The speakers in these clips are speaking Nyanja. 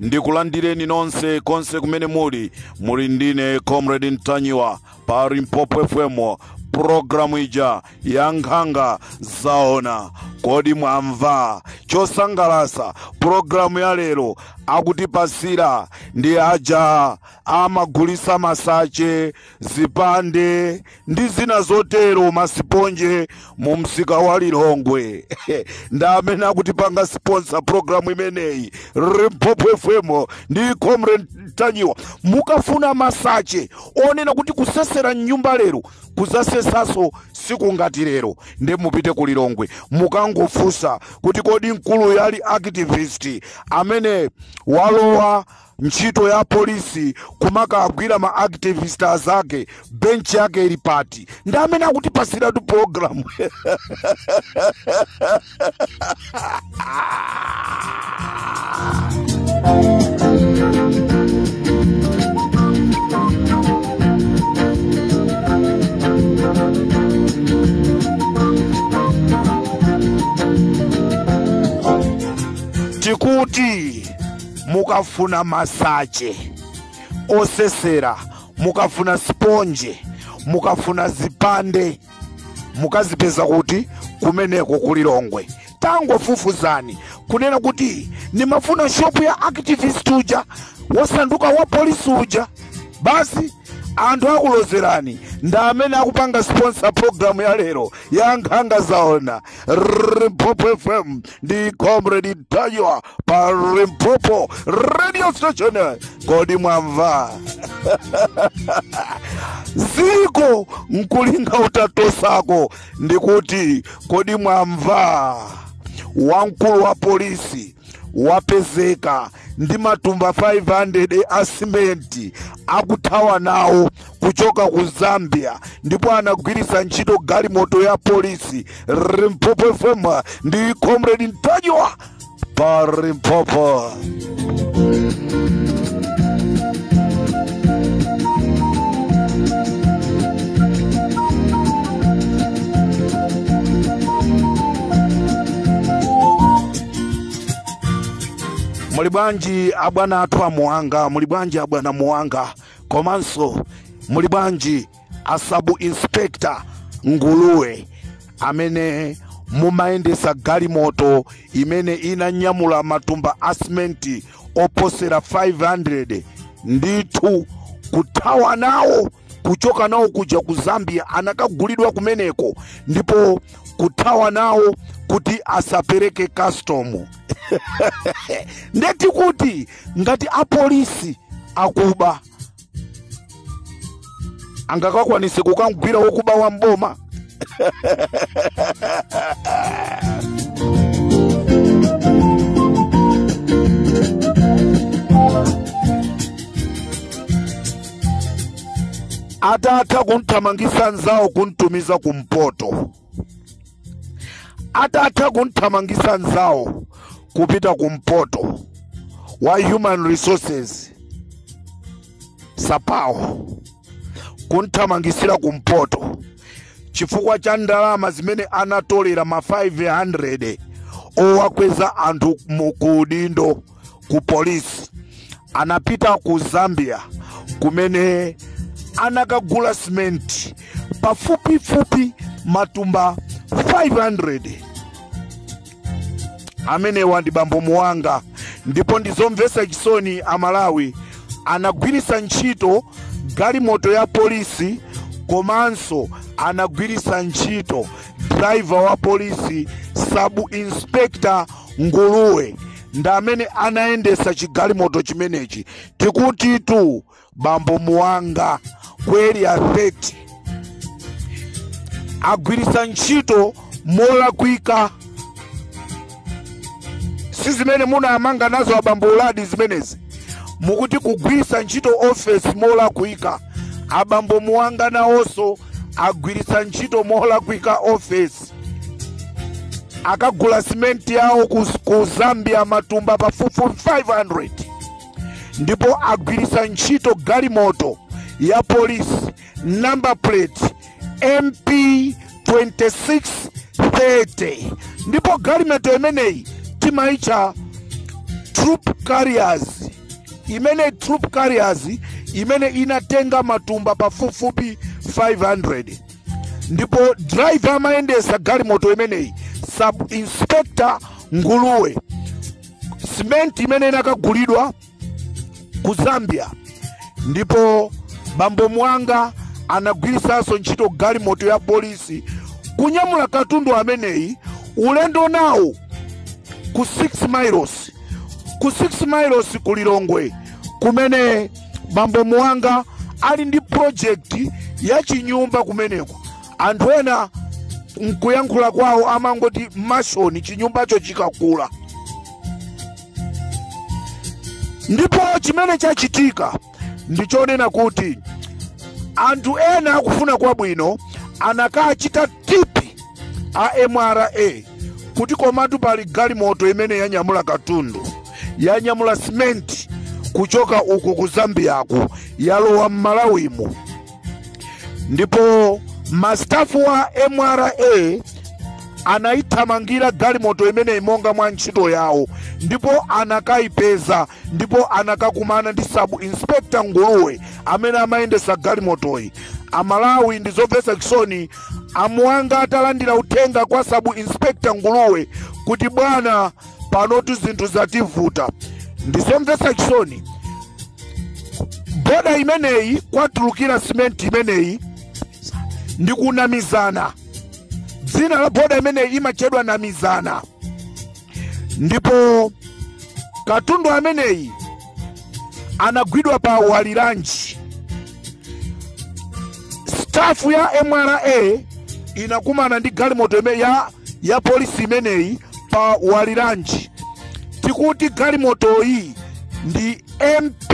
ndikulandireni nonse konse kumene muli muli ndine comrade ntanyiwa pa limpopo fm programu ija ya nkhanga zaona kodi mwamva chosangalasa programu ya lero akutipasira ndi aja amagulisa masache zipande ndi zina zotero masiponje mu msika wa lilongwe ndi amene akutipanga siponsa programu imeneyi limpopo fm ndi comrade ntanyiwa mukafuna masache onena kuti kusesera mnyumba lero kuzasesanso siku ngati lero ndi mupite ku lilongwe mukangofunsa kuti kodi mkulu uja anali activist amene walowa ntchito ya polisi kumakagwira ma activist azake bench yake ili pati ndi amene akutipasiratu program tikuti mukafuna masache osesera mukafuna siponje mukafuna zipande mukazipeza kuti kumeneko ku lilongwe tangofufuzani kunena kuti nimafuna shopu ya activist uja wasanduka wa polisi uja basi anthu akulozerani ndi amene akupanga sponsor program ya lero ya nkhanga zaona rrr, limpopo fm ndi comrade ntanyiwa pa limpopo radio station kodi mwamva ziko nkulinga utatosako ndikuti kodi mwamva wamkulu wa polisi wapezeka ndi matumba 500 a simenti akuthawa nawo kuchoka ku zambia ndipo anagwiritsa ntchito galimoto ya polisi limpopo fm ndi comrade ntanyiwa pa limpopo muli bwanji abwana athu a muhanga muli bwanji abwana muhanga komanso muli bwanji a sub inspector nguluwe amene mumayendesa galimoto imene inanyamula matumba a simenti oposera 500 ndithu kuthawa nawo kuchoka nawo kuja ku zambia anakagulidwa kumeneko ndipo kuthawa nawo kuti asapereke custom nde tikuti ngati apolisi akuba angakakwanise kukamgwira wokuba wa mboma atatha kumthamangisa nzawo kumtumiza kumpoto atatha kumthamangisa nzawo kupita kumpoto wa human resources sapawo kumthamangisira kumpoto chifukwa cha ndalama zimene anatolera ma 500 owakweza anthu mu- ku udindo ku polisi anapita ku zambia kumene anakagula simenti pafupifupi matumba 500 amenewa ndi bambo muwanga ndipo ndizomvetsa chisoni amalawi anagwiritsa ntchito galimoto ya polisi komanso anagwiritsa ntchito driver wa polisi sub inspector nguluwe ndi amene anayendesa chigalimoto chimenechi tikutitu bambo muwanga ku area 30 agwirisa ntchito molakwika si zimene munaamanga nazo abambo uladi zimenezi mukuti kugwirisa ntchito ofesi molakwika abambo muwanga nawonso agwirisa ntchito molakwika ofesi akagula simenti yawo ku, ku zambia matumba pafupifupi 500 ndipo agwiritsa ntchito galimoto ya polisi number plate mp 2630 ndipo galimoto imeneyi timaitcha troop carriers imeneyi troop carriers imene inatenga matumba pafupifupi 500 ndipo driver amayendesa galimoto imeneyi sub inspector nguluwe simenti imene inakagulidwa ku zambia ndipo bambo muwanga anagwirisanso ntchito galimoto ya polisi kunyamula katundu ameneyi ulendo nawo ku 6 miles ku 6 miles ku lilongwe kumene bambo muwanga ali ndi project ya chinyumba kumeneko anthu ena nkuyankhula kwawo amangoti mashoni chinyumbacho chikakula ndipo chimene chachitika ndichonena kuti anthu ena akufuna kwabwino anakachita tipi a mra kuti komatu pali galimoto imene yanyamula katundu yanyamula simenti kuchoka uku ku zambiyaku yalowa m'malawimu ndipo masitafu a mra anayithamangira galimoto imeneyi monga mwa ntchito yawo ndipo anakayipeza ndipo anakakumana ndi sabu inspector nguluwe amene amayendesa galimotoyi amalawi ndizomvetsa chisoni amuwanga atalandira uthenga kwa sabu inspector nguluwe kuti bwana panotu zinthu zativuta ndizomvetsa chisoni boda imeneyi kwatulukira simenti imeneyi ndi ku namizana dzina la boda imeneyi limatchedwa namizana ndipo katundu ameneyi anagwidwa pa walilanji stafu ya mra inakumana ndi galimoto ime- ya, ya polisi imeneyi pa walilanji tikuti galimotoyi ndi mp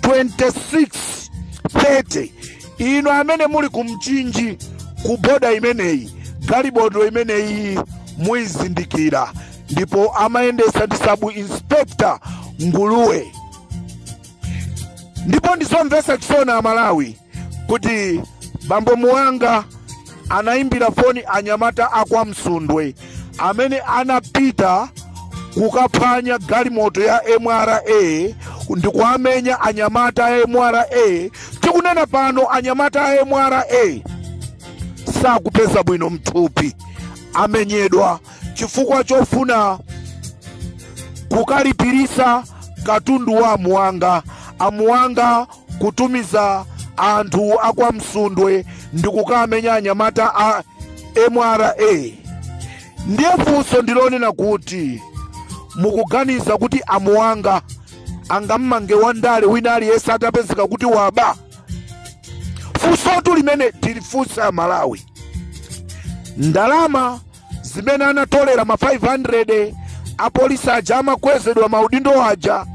2630 inu amene muli ku mchinji ku boda imeneyi galimoto imeneyi muizindikira ndipo amayendesa ndi sabu inspector nguluwe ndipo ndizomvesa chisoni amalawi kuti bambo muwanga anaimbira foni anyamata a kwa Msundwe amene anapita kukaphwanya galimoto ya MRA ndi kuwamenya anyamata a MRA. Tikunena pano anyamata a MRA sakupeza bwino mthupi, amenyedwa chifukwa chofuna kukalipirisa katundu wa amuwanga amuwanga kutumiza anthu a kwa msundwe ndi kukamenya anyamata a mra ndiye funso ndilonena kuti mukuganiza kuti amuwanga angammange wandale wina aliyense atapezeka kuti waba funsotu limene tilifunsa amalawi ndalama zimene anatolera ma 500 apolisi aja amakwezedwa maudindo aja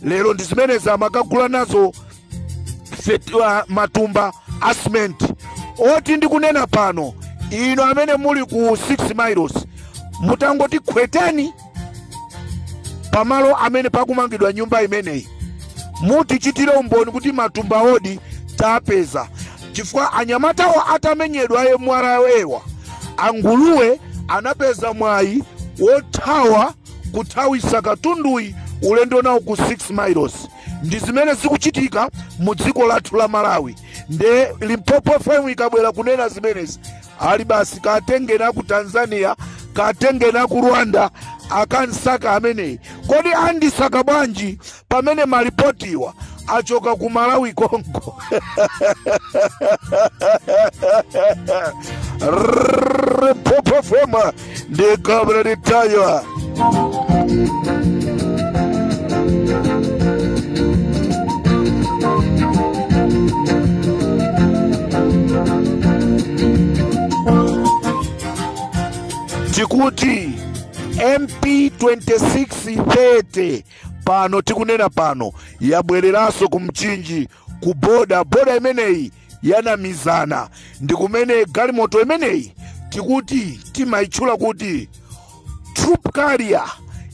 lero ndi zimene amakagula nazo f- matumba a simenti oti ndikunena pano inu amene muli ku 6 miles mutangoti khweteni pamalo amene pakumangidwa nyumba imeneyi mutichitire umboni kuti matumba oti tapeza chifukwa anyamatawo atamenyedwa a mra awa anguluwe anapeza mwayi wothawa kuthawisa katunduyi ulendo nawo ku 6 miles ndi zimene zikuchitika mu dziko lathu la malawi nde limpopo fm ikabwera kunena zimenezi ali basi katengeni ku tanzania katengeni ku rwanda akansaka ameneyi kodi andisaka bwanji pamene malipotiwa achoka ku malawi konko limpopo fm ndi comrade ntanyiwa tikuti mp 2630 pano tikunena pano yabwereranso ku mchinji ku boda boda imeneyi yanamizana ndi kumene galimoto imeneyi tikuti timayitchula kuti troop carrier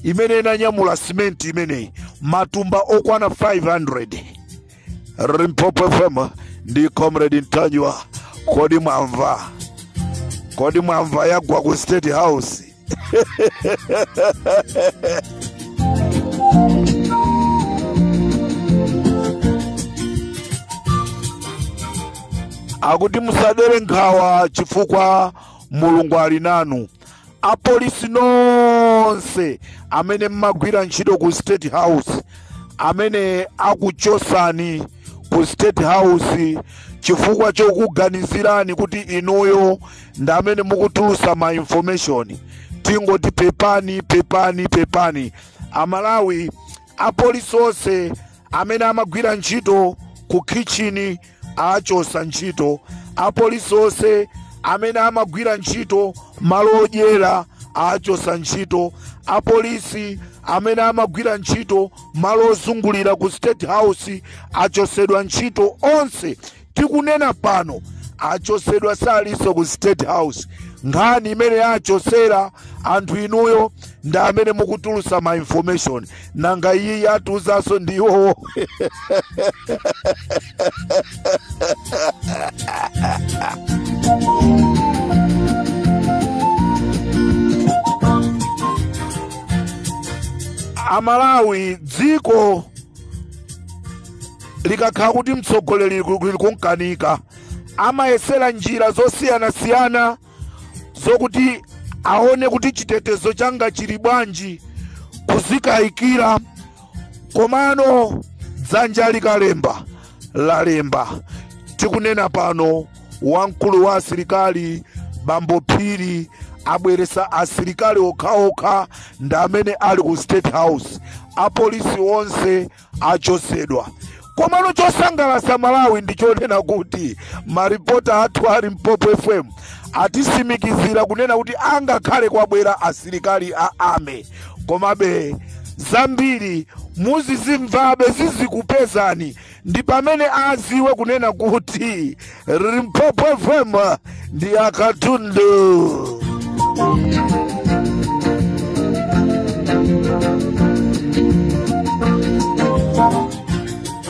imene inanyamula simenti imeneyi matumba okwana 500 limpopo fm ndi comrade ntanyiwa kodi mwamva kodi mwamva yagwa ku state house akuti musadere nkhawa chifukwa mulungu ali nanu apolisi nonse amene mmagwira ntchito ku state house amene akuchosani ku state house chifukwa chokuganizirani kuti inuyo ndi amene mukutulusa ma information tingoti pepani pepani pepani amalawi apolisi onse amene amagwira ntchito ku khitchini awachosa ntchito apolisi onse amene amagwira ntchito malo odyera awachosa ntchito apolisi amene amagwira ntchito malo ozungulira ku state house achosedwa ntchito onse tikunena pano achosedwa salinso ku state house nkhani imene achosera anthu inuyo ndi amene mukutulusa ma information nanga iyi yatulutsanso ndi iwowo amalawi dziko likakhala kuti mtsogoleri likumkanika amayesera njira zosiyanasiyana zokuti aone kuti chitetezo changa chili bwanji kuzikayikira komano dzanja likalemba lalemba tikunena pano wamkulu wa asilikali bambo phiri abweresa asilikali okhaokha ndi amene ali ku state house apolisi onse achosedwa komano chosangalasa malawi ndichonena kuti maripota athu a limpopo fm atisimikizira kunena kuti angakhale kwabwera asilikali a ame komabe zambiri muzizimvabe zizikupezani ndi pamene aziwe kunena kuti Limpopo FM ndi akatundu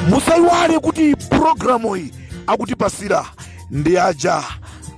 musaiwale kuti programu iyi akutipasira ndi aja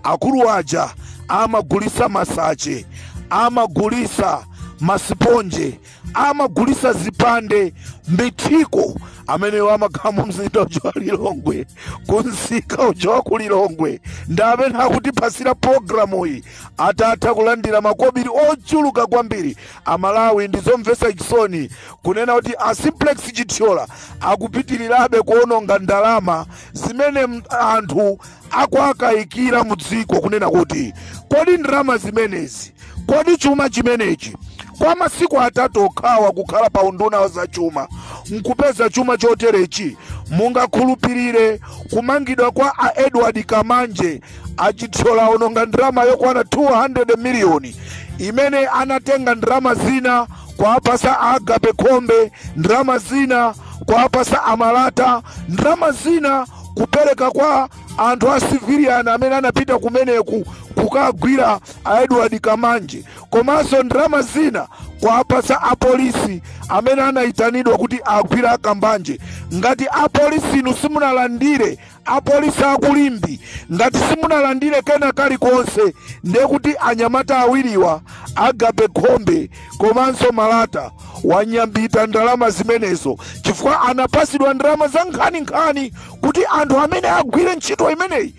akulu aja amagulisa masache amagulisa masiponje amagulisa zipande mithiko ameneyo amakhala mu mzinda uja wa lilongwe kunsika uja wa ku lilongwe ndi amene akutipasira pologalamu iyi atatha kulandira makobiri ochuluka kwambiri amalawi ndi zomvesa chisoni kunena kuti a simplex chithyola akupitirirabe kuononga ndalama zimene m- anthu akuwakayikira mu dziko kunena kuti kodi ndalama zimenezi kodi chuma chimenechi kwa masiku atatu okhawa kukhala pa unduna wa zachuma nkupeza chuma choterechi mungakhulupirire kumangidwa kwa a edward kambanje achithyola aononga ndalama yokwana 200 miliyoni imene anatenga ndalama zina kuwapasa agape khombe ndalama zina kuwapasa amalata ndalama zina kupereka kwa anthu a civilian amene anapita kumeneku kukagwira a edward kambanje komanso ndalama zina kuwapatsa apolisi amene anayitanidwa kuti agwire akambanje ngati apolisi inu simunalandire apolisi akulimbe ngati simunalandire kena kalikonse ndiye kuti anyamata awiriwa agape khombe komanso malata wanyambita ndalama zimenezo chifukwa anapasidwa ndalama za nkhaninkhani kuti anthu amene agwire ntchito imeneyi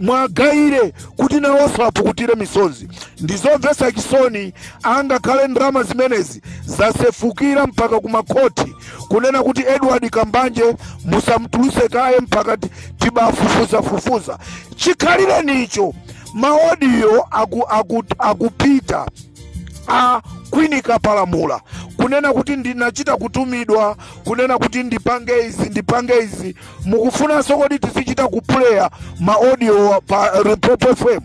muwagayire kuti nawonso apukutire misozi ndizomvetsa chisoni angakhale ndalama zimenezi zasefukira mpaka kumakhoti kunena kuti edward kambanje musamtuluse kaye mpaka ti- tibafufuzafufuza chikhalirecho maodiyo aku, aku, akupita a queen kapalamula kunena kuti ndinachita kutumidwa kunena kuti ndipange izi ndipange izi mukufunanso kuti tizichita kupuleya ma audio pa limpopo fm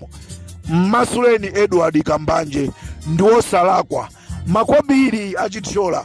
mmasuleni edward kambanje ndi wosalakwa makobiri achithyola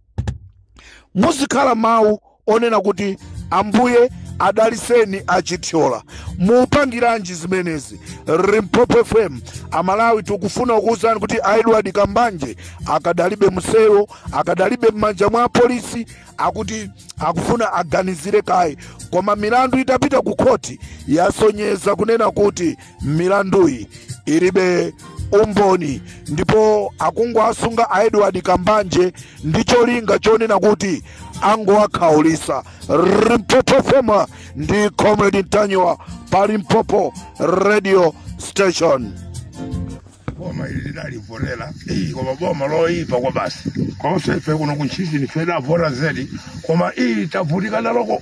muzikhala mawu onena kuti ambuye adaliseni achithyola mupangiranji zimenezi limpopo fm amalawi tikufuna kukuwuzani kuti aedward kambanje akadalibe mselo akadalibe m'manja mwa apolisi akuti akufuna aganizire kaye koma milandu itapita ku khoti yasonyeza kunena kuti milanduyi ilibe umboni ndipo akungowasunga a edward kambanje ndi cholinga chonena kuti angowakhaulisa limpopo fm ndi comrade ntanyiwa pa limpopo radio station boma ili tidalivotera koma boma loyipa kwabasi konse ife kuno kuntchisi ndife tidavota zedi koma ili tavutika naloko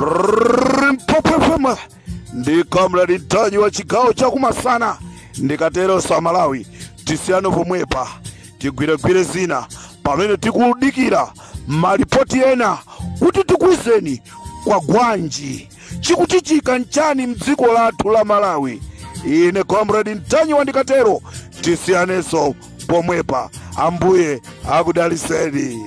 limpopo fm ndi comrade ntanyiwa chigawo chakumasana ndikatero a malawi tisiyano pomwepa tigwiregwire zina pamene tikudikira malipoti ena kuti tikuwuzeni kwa gwanji chikuchitika nchani mdziko lathu la malawi ine comrade ntanyiwa ndikatero tisiyaneso pomwepa ambuye akudaliseni